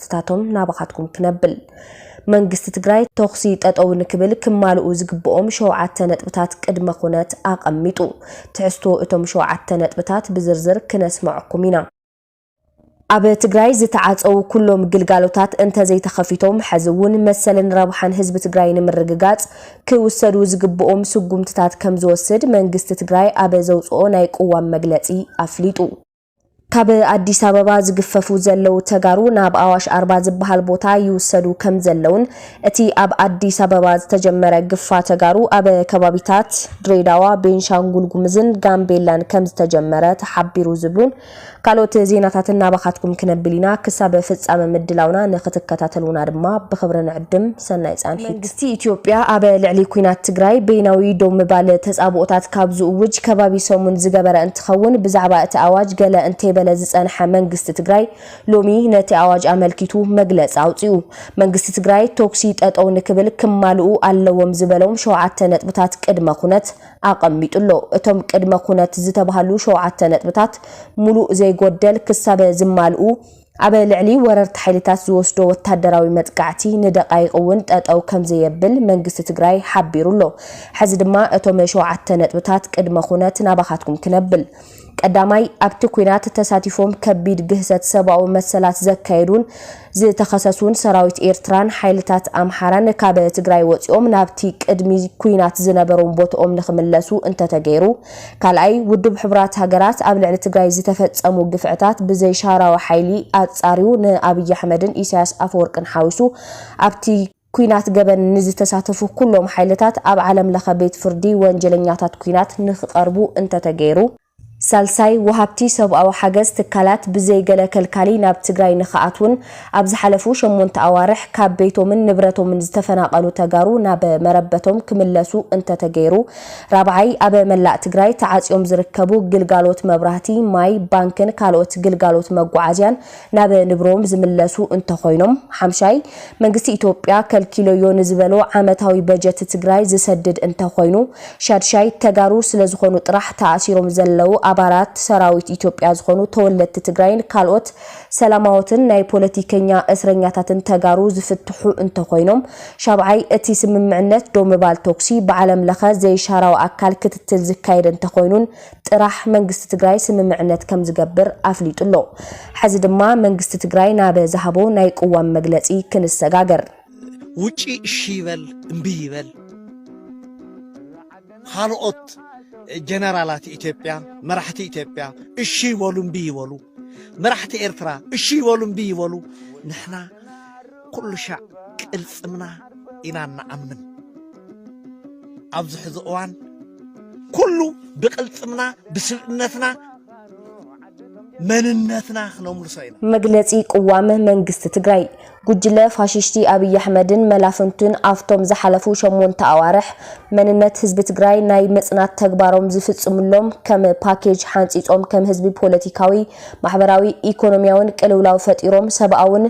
ስታቶም ናባኻትኩም ክነብል መንግስቲ ትግራይ ተኹሲ ጠጠው ንክብል ክማልኡ ዝግብኦም ሸውዓተ ነጥብታት ቅድመ ኩነት ኣቐሚጡ። ትሕዝቶ እቶም ሸውዓተ ነጥብታት ብዝርዝር ክነስመዐኩም ኢና። ኣብ ትግራይ ዝተዓፀዉ ኩሎም ግልጋሎታት እንተዘይተኸፊቶም ሐዚ እውን መሰልን ረብሓን ህዝቢ ትግራይ ንምርግጋፅ ክውሰዱ ዝግብኦም ስጉምትታት ከምዝወስድ መንግስቲ ትግራይ ኣብ ዘውፅኦ ናይ ቅዋም መግለፂ ኣፍሊጡ። ካብ ኣዲስ ኣበባ ዝግፈፉ ዘለዉ ተጋሩ ናብ ኣዋሽ ኣርባ ዝበሃል ቦታ ይውሰዱ ከም ዘለዉን እቲ ኣብ ኣዲስ ኣበባ ዝተጀመረ ግፋ ተጋሩ ኣብ ከባቢታት ድሬዳዋ፣ ቤንሻንጉል ጉምዝን ጋምቤላን ከም ዝተጀመረ ተሓቢሩ ዝብሉን ካልኦት ዜናታትን ናባኻትኩም ክነብል ኢና። ክሳብ ፍጻመ ምድላውና ንክትከታተሉና ድማ ብኽብሪ ንዕድም። ሰናይ ጻንሒት። መንግስቲ ኢትዮጵያ ኣብ ልዕሊ ኲናት ትግራይ በይናዊ ደው ምባል ተጻብኦታት ካብ ዝእውጅ ከባቢ ሰሙን ዝገበረ እንትኸውን ብዛዕባ እቲ ኣዋጅ ገለ እንተይበለ ዝፀንሐ መንግስቲ ትግራይ ሎሚ ነቲ ኣዋጅ ኣመልኪቱ መግለፂ ኣውፂኡ። መንግስቲ ትግራይ ቶኽሲ ጠጠው ንክብል ክማልኡ ኣለዎም ዝበሎም ሸውዓተ ነጥብታት ቅድመ ኩነት ኣቐሚጡ ኣሎ። እቶም ቅድመ ኩነት ዝተብሃሉ ሸውዓተ ነጥብታት ሙሉእ ዘይጎደል ክሳብ ዝማልኡ፣ ኣብ ልዕሊ ወረርቲ ሓይልታት ዝወስዶ ወታደራዊ መጥቃዕቲ ንደቓይቕ እውን ጠጠው ከምዘየብል መንግስቲ ትግራይ ሓቢሩ ኣሎ። ሕዚ ድማ እቶም ሸውዓተ ነጥብታት ቅድመ ኩነት ናባኻትኩም ክነብል። ቀዳማይ፣ ኣብቲ ኲናት ተሳቲፎም ከቢድ ግህሰት ሰብኣዊ መሰላት ዘካየዱን ዝተኸሰሱን ሰራዊት ኤርትራን ሓይልታት ኣምሓራን ካብ ትግራይ ወፂኦም ናብቲ ቅድሚ ኲናት ዝነበሮም ቦትኦም ንክምለሱ እንተተገይሩ ካልኣይ፣ ውድብ ሕቡራት ሃገራት ኣብ ልዕሊ ትግራይ ዝተፈጸሙ ግፍዕታት ብዘይሻራዊ ሓይሊ ኣጻርዩ ንኣብይ ኣሕመድን ኢሳያስ ኣፈወርቅን ሓዊሱ ኣብቲ ኩናት ገበን ንዝተሳተፉ ኩሎም ሓይልታት ኣብ ዓለም ለኸ ቤት ፍርዲ ወንጀለኛታት ኩናት ንክቐርቡ እንተተገይሩ። ሳልሳይ፣ ወሃብቲ ሰብኣዊ ሓገዝ ትካላት ብዘይ ገለ ከልካሊ ናብ ትግራይ ንክኣትዉን ኣብ ዝሓለፉ ሸሞንተ ኣዋርሕ ካብ ቤቶምን ንብረቶምን ዝተፈናቐሉ ተጋሩ ናብ መረበቶም ክምለሱ እንተተገይሩ፣ ራብዓይ ኣብ መላእ ትግራይ ተዓፅዮም ዝርከቡ ግልጋሎት መብራህቲ፣ ማይ፣ ባንክን ካልኦት ግልጋሎት መጓዓዝያን ናብ ንብሮም ዝምለሱ እንተኾይኖም፣ ሓምሻይ መንግስቲ ኢትዮጵያ ከልኪሎዮ ንዝበሎ ዓመታዊ በጀት ትግራይ ዝሰድድ እንተኾይኑ፣ ሻድሻይ ተጋሩ ስለዝኾኑ ጥራሕ ተኣሲሮም ዘለዉ ኣባላት ሰራዊት ኢትዮጵያ ዝኾኑ ተወለድቲ ትግራይን ካልኦት ሰላማዎትን ናይ ፖለቲከኛ እስረኛታትን ተጋሩ ዝፍትሑ እንተኾይኖም፣ ሻብዓይ፣ እቲ ስምምዕነት ደው ምባል ቶኩሲ ብዓለም ለኸ ዘይሻራዊ ኣካል ክትትል ዝካየድ እንተኾይኑን ጥራሕ መንግስቲ ትግራይ ስምምዕነት ከምዝገብር ኣፍሊጡ ኣሎ። ሐዚ ድማ መንግስቲ ትግራይ ናብ ዝሃቦ ናይ ቅዋም መግለፂ ክንሰጋገር። ውጪ እሺ ይበል እምቢ ይበል ኻልኦት ጀነራላት ኢትዮጵያ መራሕቲ ኢትዮጵያ እሺ ይበሉ እምቢ ይበሉ፣ መራሕቲ ኤርትራ እሺ ይበሉ እምቢ ይበሉ ንሕና ኩሉ ሻዕ ቅልጽምና ኢና እንኣምን ኣብዚ ሕዚ እዋን ኩሉ ብቅልጽምና ብስብእነትና መንነትና ክነምልሶ ኢና መግለጺ ቅዋም መንግስቲ ትግራይ ጉጅለ ፋሽሽቲ ኣብይ ኣሕመድን መላፍንቱን ኣብቶም ዝሓለፉ ሸሞንተ ኣዋርሕ መንነት ህዝቢ ትግራይ ናይ ምፅናት ተግባሮም ዝፍፅምሎም ከም ፓኬጅ ሓንፂፆም ከም ህዝቢ ፖለቲካዊ፣ ማሕበራዊ፣ ኢኮኖሚያዊን ቅልውላው ፈጢሮም ሰብኣውን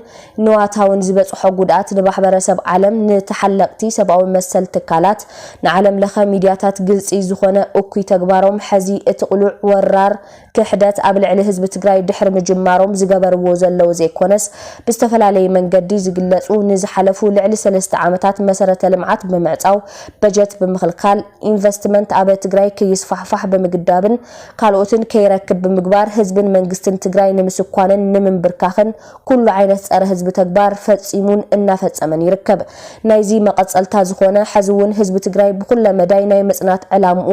ንዋታውን ዝበፅሖ ጉድኣት ንማሕበረሰብ ዓለም፣ ንተሓለቕቲ ሰብኣዊ መሰል ትካላት፣ ንዓለም ለኸ ሚድያታት ግልፂ ዝኾነ እኩይ ተግባሮም ሐዚ እቲ ቅሉዕ ወራር ክሕደት ኣብ ልዕሊ ህዝቢ ትግራይ ድሕሪ ምጅማሮም ዝገበርዎ ዘለዉ ዘይኮነስ ብዝተፈላለየ መንገዲ ዝግለፁ ንዝሓለፉ ልዕሊ ሰለስተ ዓመታት መሰረተ ልምዓት ብምዕፃው፣ በጀት ብምኽልካል፣ ኢንቨስትመንት ኣብ ትግራይ ክይስፋሕፋሕ ብምግዳብን ካልኦትን ከይረክብ ብምግባር ህዝብን መንግስትን ትግራይ ንምስኳንን ንምምብርካኽን ኩሉ ዓይነት ፀረ ህዝቢ ተግባር ፈፂሙን እናፈፀመን ይርከብ። ናይዚ መቐፀልታ ዝኾነ ሕዚ እውን ህዝቢ ትግራይ ብኹለ መዳይ ናይ ምፅናት ዕላምኡ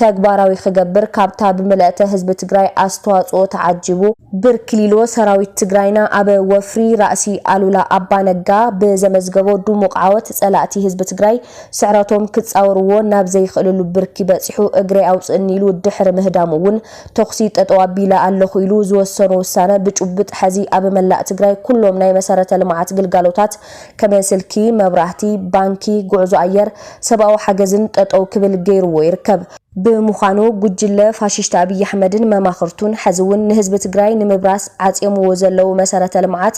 ተግባራዊ ክገብር ካብታ ብመለእተ ህዝቢ ትግራይ ኣስተዋፅኦ ተዓጂቡ ብርክሊሎ ሰራዊት ትግራይና ኣብ ወፍሪ ራእሲ ኣሉላ ኣባ ነጋ ብዘመዝገቦ ድሙቕ ዓወት ፀላእቲ ህዝቢ ትግራይ ስዕረቶም ክፃወርዎ ናብ ዘይኽእልሉ ብርኪ በፂሑ እግረይ ኣውፅእኒ ኢሉ ድሕሪ ምህዳሙ እውን ተኹሲ ጠጠው ኣቢለ ኣለኹ ኢሉ ዝወሰኖ ውሳነ ብጭቡጥ ሐዚ ኣብ መላእ ትግራይ ኩሎም ናይ መሰረተ ልምዓት ግልጋሎታት ከም ስልኪ፣ መብራህቲ፣ ባንኪ፣ ጉዕዞ ኣየር፣ ሰብኣዊ ሓገዝን ጠጠው ክብል ገይርዎ ይርከብ። ብምዃኑ ጉጅለ ፋሽሽቲ ኣብይ ኣሕመድን መማኽርቱን ሐዚ ውን ንህዝቢ ትግራይ ንምብራስ ዓፅዮምዎ ዘለው መሰረተ ልምዓት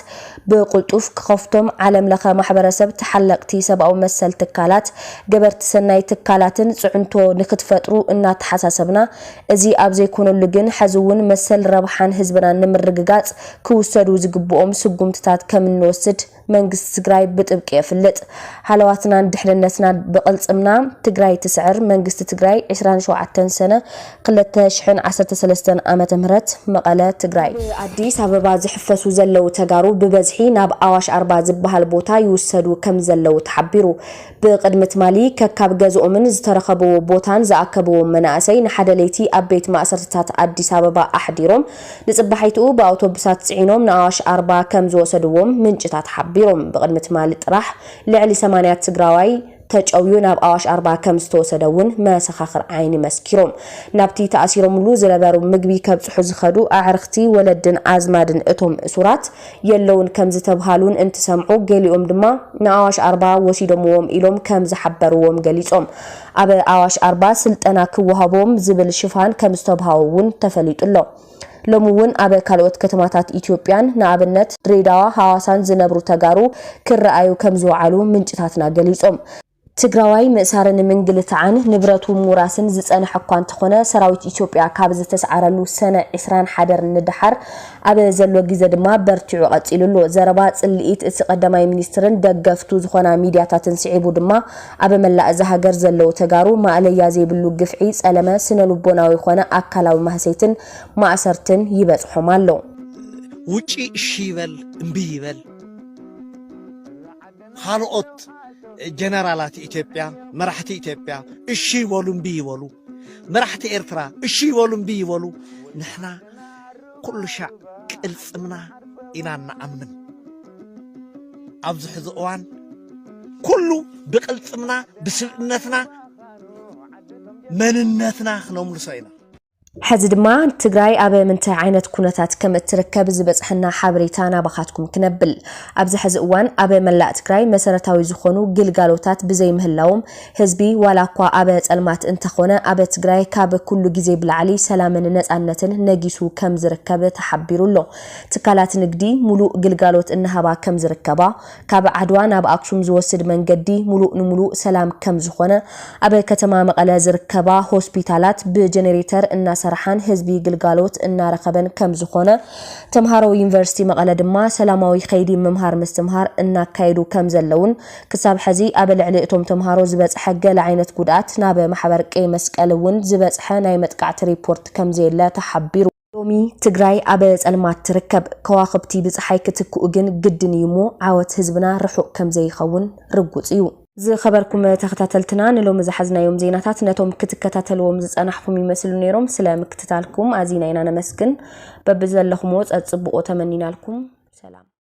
ብቕልጡፍ ክኸፍቶም ዓለም ለኸ ማሕበረሰብ ተሓለቕቲ ሰብኣዊ መሰል ትካላት ገበርቲ ሰናይ ትካላትን ፅዕንቶ ንክትፈጥሩ እናተሓሳሰብና እዚ ኣብ ዘይኮነሉ ግን ሐዚ እውን መሰል ረብሓን ህዝብናን ንምርግጋፅ ክውሰዱ ዝግብኦም ስጉምትታት ከም እንወስድ መንግስቲ ትግራይ ብጥብቂ የፍልጥ። ሃለዋትናን ድሕንነትናን ብቅልፅምና ትግራይ ትስዕር መንግስቲ ትግራይ ዕስራን ሸውዓተን ሰነ ክልተ ሽሕን ዓሰርተ ሰለስተን ዓመተ ምህረት መቐለ፣ ትግራይ። ኣብ ኣዲስ ኣበባ ዝሕፈሱ ዘለው ተጋሩ ብበዝሒ ናብ ኣዋሽ ኣርባ ዝበሃል ቦታ ይውሰዱ ከም ዘለው ተሓቢሩ። ብቕድሚ ትማሊ ከካብ ገዝኦምን ዝተረኸብዎ ቦታን ዝኣከብዎም መናእሰይ ንሓደ ለይቲ ኣብ ቤት ማእሰርትታት ኣዲስ ኣበባ ኣሕዲሮም ንፅባሒትኡ ብኣውቶብሳት ፅዒኖም ንኣዋሽ ኣርባ ከምዝወሰድዎም ምንጭታት ሓቢሮም። ብቕድሚ ትማሊ ጥራሕ ልዕሊ ሰማንያ ትግራዋይ ተጨውዩ ናብ ኣዋሽ ኣርባ ከምዝተወሰደ እውን መሰኻኽር ዓይኒ መስኪሮም። ናብቲ ተኣሲሮምሉ ዝነበሩ ምግቢ ከብፅሑ ዝኸዱ ኣዕርኽቲ፣ ወለድን ኣዝማድን እቶም እሱራት የለዉን ከም ዝተብሃሉን እንትሰምዑ ገሊኦም ድማ ንኣዋሽ ኣርባ ወሲዶምዎም ኢሎም ከም ዝሓበርዎም ገሊፆም። ኣብ ኣዋሽ ኣርባ ስልጠና ክወሃቦም ዝብል ሽፋን ከም ዝተብሃዎ እውን ተፈሊጡ ኣሎ። ሎሚ እውን ኣብ ካልኦት ከተማታት ኢትዮጵያን ንኣብነት ድሬዳዋ፣ ሃዋሳን ዝነብሩ ተጋሩ ክረኣዩ ከም ዝወዓሉ ምንጭታትና ገሊፆም። ትግራዋይ ምእሳርን ምንግልታዕን ንብረቱ ምውራስን ዝፀንሐ እኳ እንተኾነ ሰራዊት ኢትዮጵያ ካብ ዝተስዓረሉ ሰነ ዕስራን ሓደር ንደሓር ኣብ ዘሎ ግዘ ድማ በርቲዑ ቀፂሉ ኣሎ። ዘረባ ፅልኢት እቲ ቀዳማይ ሚኒስትርን ደገፍቱ ዝኾና ሚድያታትን ስዒቡ ድማ ኣብ መላእ እዛ ሃገር ዘለው ተጋሩ ማእለያ ዘይብሉ ግፍዒ፣ ፀለመ፣ ስነልቦናዊ ኾነ ኣካላዊ ማህሰይትን ማእሰርትን ይበፅሖም ኣሎ። ውጪ እሺ ይበል እምቢ ይበል። ኻልኦት ጀነራላት ኢትዮጵያ መራሕቲ ኢትዮጵያ እሺ ይበሉ እምቢ ይበሉ መራሕቲ ኤርትራ እሺ ይበሉ እምቢ ይበሉ ንሕና ኩሉ ሻዕ ቅልጽምና ኢና እንኣምን ኣብዚ ሕዚ እዋን ኩሉ ብቅልጽምና ብስብእነትና መንነትና ክነምልሶ ኢና ሐዚ ድማ ትግራይ ኣብ ምንታይ ዓይነት ኩነታት ከም እትርከብ ዝበፀሐና ሓበሬታ ናባኻትኩም ክነብል። ኣብዚ ሐዚ እዋን ኣብ መላእ ትግራይ መሰረታዊ ዝኾኑ ግልጋሎታት ብዘይ ምህላዎም ህዝቢ ዋላ እኳ ኣብ ፀልማት እንተኾነ ኣብ ትግራይ ካብ ኩሉ ግዜ ብላዕሊ ሰላምን ነፃነትን ነጊሱ ከም ዝርከብ ተሓቢሩ ኣሎ። ትካላት ንግዲ ሙሉእ ግልጋሎት እናሃባ ከም ዝርከባ ካብ ዓድዋ ናብ ኣክሱም ዝወስድ መንገዲ ሙሉእ ንሙሉእ ሰላም ከም ዝኾነ፣ ኣብ ከተማ መቐለ ዝርከባ ሆስፒታላት ብጀኔሬተር እናሰራሓን ህዝቢ ግልጋሎት እናረኸበን ከም ዝኾነ፣ ተምሃሮ ዩኒቨርሲቲ መቐለ ድማ ሰላማዊ ከይዲ ምምሃር ምስትምሃር እናካየዱ ከም ዘለዉን ክሳብ ሐዚ ኣብ ልዕሊ እቶም ተምሃሮ ዝበፅሐ ገለ ዓይነት ጉድኣት ናብ ማሕበር ቀይ መስቀል እውን ዝበፅሐ ናይ መጥቃዕቲ ሪፖርት ከም ዘየለ ተሓቢሩ። ሎሚ ትግራይ ኣብ ፀልማት ትርከብ። ከዋኽብቲ ብፀሓይ ክትክኡ ግን ግድን እዩ እሞ ዓወት ህዝብና ርሑቕ ከምዘይኸውን ርጉፅ እዩ። ዝኸበርኩም ተኸታተልትና ንሎሚ ዝሓዝናዮም ዜናታት ነቶም ክትከታተልዎም ዝፀናሕኹም ይመስሉ ነይሮም። ስለ ምክትታልኩም ኣዚና ኢና ነመስግን። በብዘለኹምዎ ፀፅብቑ ተመኒናልኩም። ሰላም።